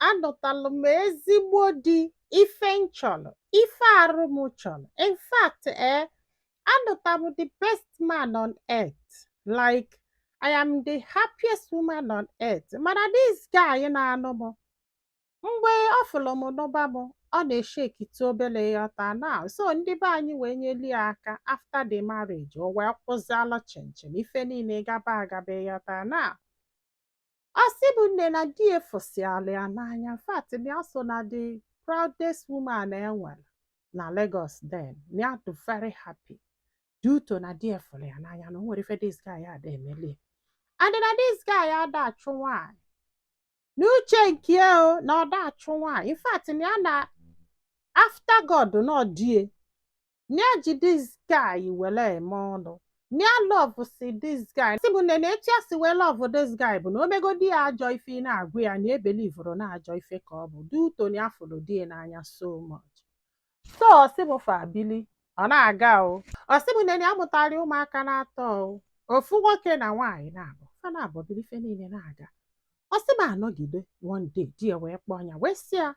anụtalụ m ezigbo di ife m chọrọ ife arụ m chọrọ in fact ee eh, anụta m the best man on earth like I am the happiest woman on earth mana this guy na-anụ m mgbe ọ fụrụ m n'ụba m ọ na-eshekite obere ịghọta na so ndị be anyị wee nyeli ya aka after the marriage o wee kwụzialụ chịm chịm ife niile gaba agaba ịghọta na Ọ sị bụ nne na di ya fụsịala ya n'anya in fact na ya so na the proudest woman e nwere na Lagos then na ya dị very happy due to na di ya fụrụ ya n'anya na o nwerọ ife this guy ada emeli ya. and na this guy ada achụ nwaanyị n'uche nke ya o na ọ da achụ nwaanyị in fact na ya na after God na ọ di ya na ya ji this guy were eme ọnụ na ya love si this guy sị bụ nne na etu ya si wee love this guy bụ na o megodi ya ajọ ife ị na-agwa ya na ebelivụrụ na ajọ ife ka ọ bụ due to na ya fụrụ di ya n'anya so much so ọ sị bụ fa bili ọ na-aga o ọ sị bụ nne na ya mụtara ụmụaka naatọ o ofu nwoke na nwaanyị naabọ fa naabọ bili ife niile na-aga ọ sị m a nọgide one day di ya wee kpọọ ya wee sị ya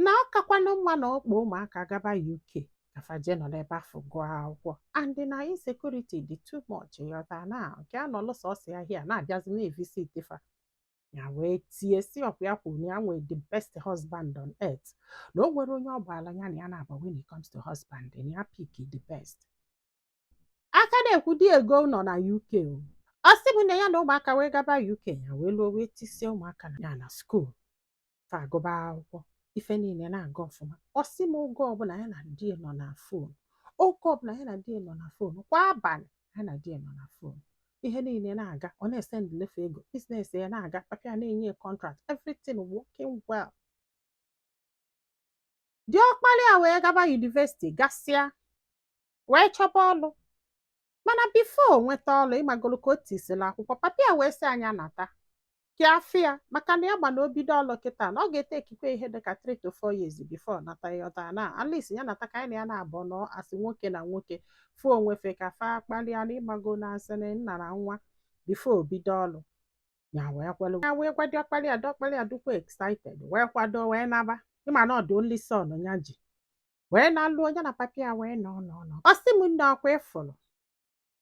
na ọ kakwanụ mma na ọ kpọọ ụmụaka gaba UK ka fa jee nọ n'ebe afụ gụọ akwụkwọ and na insecurity dị too much ịghọta na nke ya nọlụ sọsọ ya here na-abịazi na-evisit fa ya wee tie sị ọ kwa ya kwuru na ya nwee the best husband on earth na o nwerọ onye ọ gbaala ya na ya na-agba when it comes to husband na ya pick the best a ka na-ekwu di ya egoo ụnọ na UK o. ọ sị m na ya na ụmụaka wee gaba UK ya wee luo wee tisie ụmụaka na ya na school fa agụba akwụkwọ ife niile na-aga ọfụma ọ sị m oge ọbụla ya na di nọ na phone oge ọbụla ya na di nọ na phone kwa abalị ya na di nọ na phone ihe niile na-aga ọ na-esendili fa ego business ya na-aga papa ya na-enye contract everything working well diọkpara ya wee gaba university gasịa wee chọba ọlụ mana before o nweta ọlụ ị magolu ka o tisila akwụkwọ papa ya wee sị na ya nata ka ya fụ ya maka na ya ma na o bido ọlụ kịta na ọ ga-ete ekikwe ihe dịka 3 to 4 years before ọ nata ịghọta na at least ya nata ka anyị na ya naabọ nọ as nwoke na nwoke fụ onwe fa ka fa kpalịa na ị mago na as in nna na nwa before o bido ọlụ ya wee kwelu ya wee gwa diọkpala ya diọkpala ya dịkwa excited wee kwado wee naba ị ma na ọ bụ only son ya ji wee na-alụ onye na papa ya wee nọ nọ nọ ọ sị m nne ọkwa ịfụrụ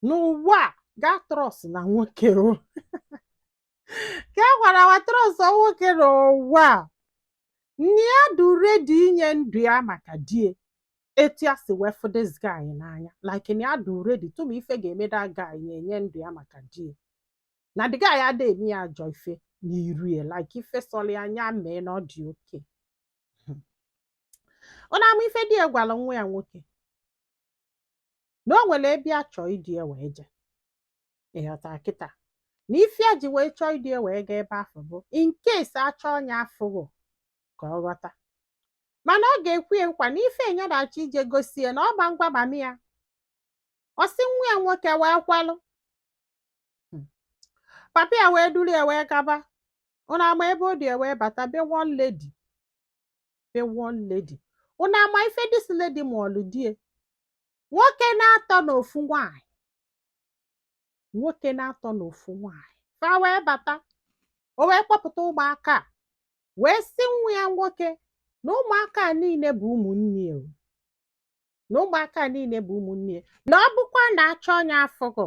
n'ụwa a gaa trust na nwoke o ka e gwara wa trust nwoke n'ụwa a na ya dị ready inye ndụ ya maka die etu ya si wee fụ this guy n'anya like na ya dị ready tụma ife ga-eme the guy ya enye ndụ ya maka die na the guy ada eme ya ajọ ife n'iru ya like ife sọrọ ya anya mee na ọ dị okay unu ama ife di ya gwara nwa ya nwoke na o nwere ebe ya chọọ idu ya wee jee ịghọta kịta na ife ya ji wee chọọ idu ya wee gaa ebe afụ bụ in case achọọ nya afụghọ ka ọ ghọta mana ọ ga-ekwe ya nkwa na ife nya na-achọ ije gosi ya na ọ ma ngwa mami ya ọ sị nwa ya nwoke wee kwelụ papa ya wee duru ya wee gaba unu ama ebe o du ya wee bata be one lady the one lady unu ama ife this lady mụọlụ die nwoke na-atọ na ofu nwanyị nwoke na-atọ na ofu nwanyị fa wee bata o wee kpọpụta ụmụaka a wee sị nwa ya nwoke na ụmụaka a niile bụ ụmụnne ya o. na ụmụaka a niile bụ ụmụnne ya na ọ bụkwa na achọọ nya afụghọ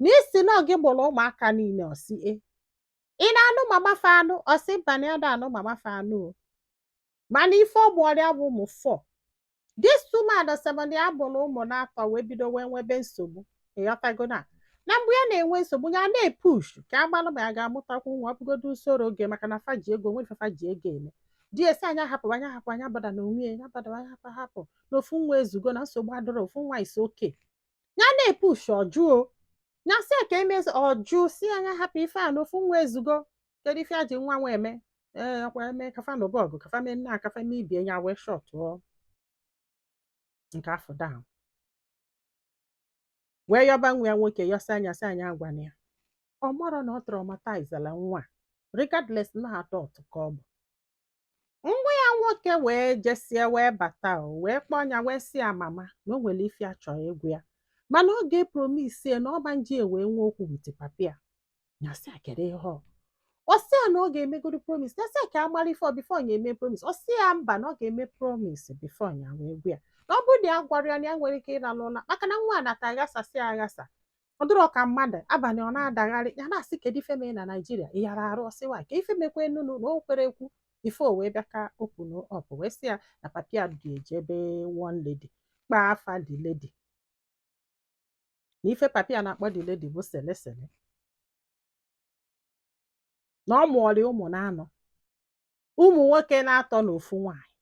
na ị sị na ọ gị mụrụ ụmụaka niile ọ sị ee ị na-anụ mama fa anụ ọ sị mba na ya ada anụ mama fa anụ o mana ife ọ mụọrị ya bụ ụmụ four this woman ọ sị m na ya mụrụ ụmụ na-atọ wee bido wee nwebe nsogbu ịghọtago na na mgbe ya na-enwe nsogbu ya na-epushu ka a gbalụ ma ya ga-amụtakwu nwa ọ bụgodo surrogate maka na fa ji ego nwee ife fa ji ego eme di ya sị nya hapụ nya hapụ nya abotherna onwe ya nya abother nya hapụ hapụ na ofu nwa ezugo na nsogbu adịrọ ofu nwa is okay ya na-epush ọ jụ o ya sị ka e mezie ọ jụ sị nya hapụ ife a na ofu nwa ezugo kedu ife e ji nwa nwa eme ee ọkwa emekaa fa anụba ọgụ ka fa mee nna a ka fa mee ibie ya wee shọtụọ nke afụ down wee yọba nwa ya nwoke yọsịa nya sị nya agwana ya ọ marọ na ọ traumatizela nwa regardless na adult ka ọ bụ nwa ya nwoke wee jesie wee bata o wee kpọọ ya wee sị ya mama na o nwere ife ya chọrọ ịgwa ya mana ọ ga-epromisie na ọ ma nji ya wee nwee okwu with papi ya ya sị ya kedu ihe ọ ọ sị ya na ọ ga-emegodo promise ya sị ya ka a mara ife ọ before ya eme promise ọ sị ya mba na ọ ga-eme promise before ya wee gwa ya na ọ bụrụ na ya agwarọ ya na ya enwerọ ike ịlalụ ụla maka na nwa a nata aghasasị aghasa ọ dịrọ ka mmadụ abalị ọ na-adagharị ya na-asị kedu ife mee na naijiria ị yara arụ ọ sị wa ka ife mekwa enunu na o kwerọ ekwu ife o wee bịa ka open up wee sị ya na papi ya du ya jee be one lady kpaa afa the lady na ife papi ya na-akpọ the lady bụ sele sele na ọ mụọrị ụmụ na-anọ ụmụ nwoke na-atọ na ofu nwaanyị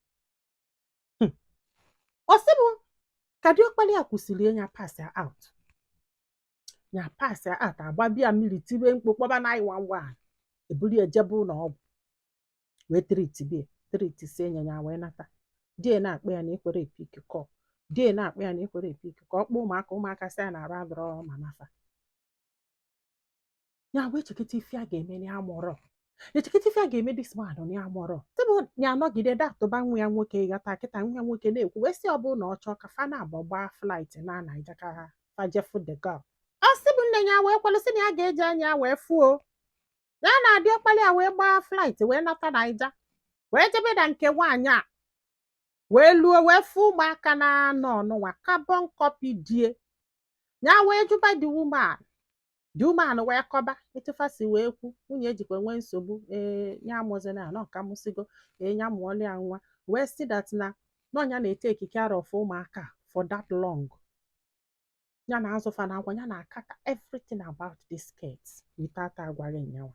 Hmm. ọ sị bụ ka diọkpara ya kwusịrị ya pasịa out ya pasịa out agbaba ya mmiri tibe mkpu kpọba 911 eburu ya jebe ụlọ ọgwụ wee tritibie tritisie ya ya wee nata di ya na-akpọ ya na ekwerọ epik call di ya na-akpọ ya na ekwerọ epik call ọ kpọọ ụmụaka ụmụaka sị ya na arụ adịrọ mama fa ya wee chekịta ife ya ga-eme na ya amọrọ ya chekịta ife ya ga-eme this man na ya amọrọ tebụ ya anọgide da atụba nwa ya nwoke ghọta kịta nwa ya nwoke na-ekwu wee sị ọ bụrụ na ọ chọọ ka fa naabọ gbaa flight naa Naija ka fa je fụ the girl ọ sị bụ nne ya wee kwelụ sị na ya ga-eji anya ya wee fụ ya na diọkpala ya wee gbaa flight wee nata Naija wee jebe na nke nwaanyị a wee luo wee fụ ụmụaka anọ nụnwa carbon copy di ya ya wee jụba the woman the woman wee kọba etu fa si wee kwu nwunye ejikwa nwee nsogbu ee ya amụzina ya nọ ka mụsigo ee ya amụọla ya nwa wee sị that na ọ ya na-etake care of ụmụaka for that long ya na-azụ fa na akwa ya na-akata everything about these kids without agwaghị ya nwa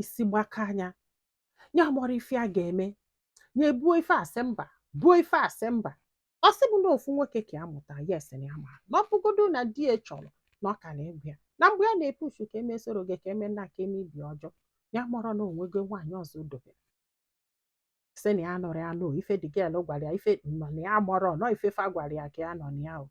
isi gbakaa ya ya amọrọ ife ya ga-eme ya ebuo ife asị mba buo ife asị mba ọ sị bụ na ofu nwoke ka ya mụta yes na ya ma na ọ bụgodo na di ya chọrọ na ọ ka na-agwa ya na mgbe ya na-epush ka eme surrogate ka eme nna ka eme IV ọ jụ ya amọrọ na o nwego nwaanyị ọzọ o dobere sị na ya nọrọ ya nụ ife the girl gwara ya ife nọ na ya amọrọ nọ ife fa gwara ya ka ya nọ na ya o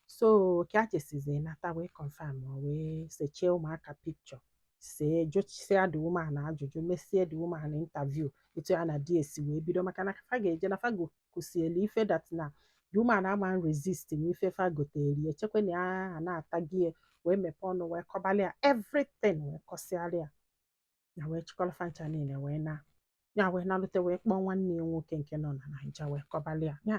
so ka a chesizi nata wee confirm wee sechie ụmụaka picture see jụsịa the woman ajụjụ mesie the woman interview etu ya na di ya si wee bido maka na fa ga-eje na fa gokusielu ife that na the woman ama resist na ife fa gotere echekwa na ya na-atagie wee mepee ọnụ wee kọbalị ya everything wee kọsịara ya ya wee chịkọrọ fa ncha niile wee naa ya wee nalute wee kpọọ nwanne ya nwoke nke nọ na Naija wee kọbalị ya ya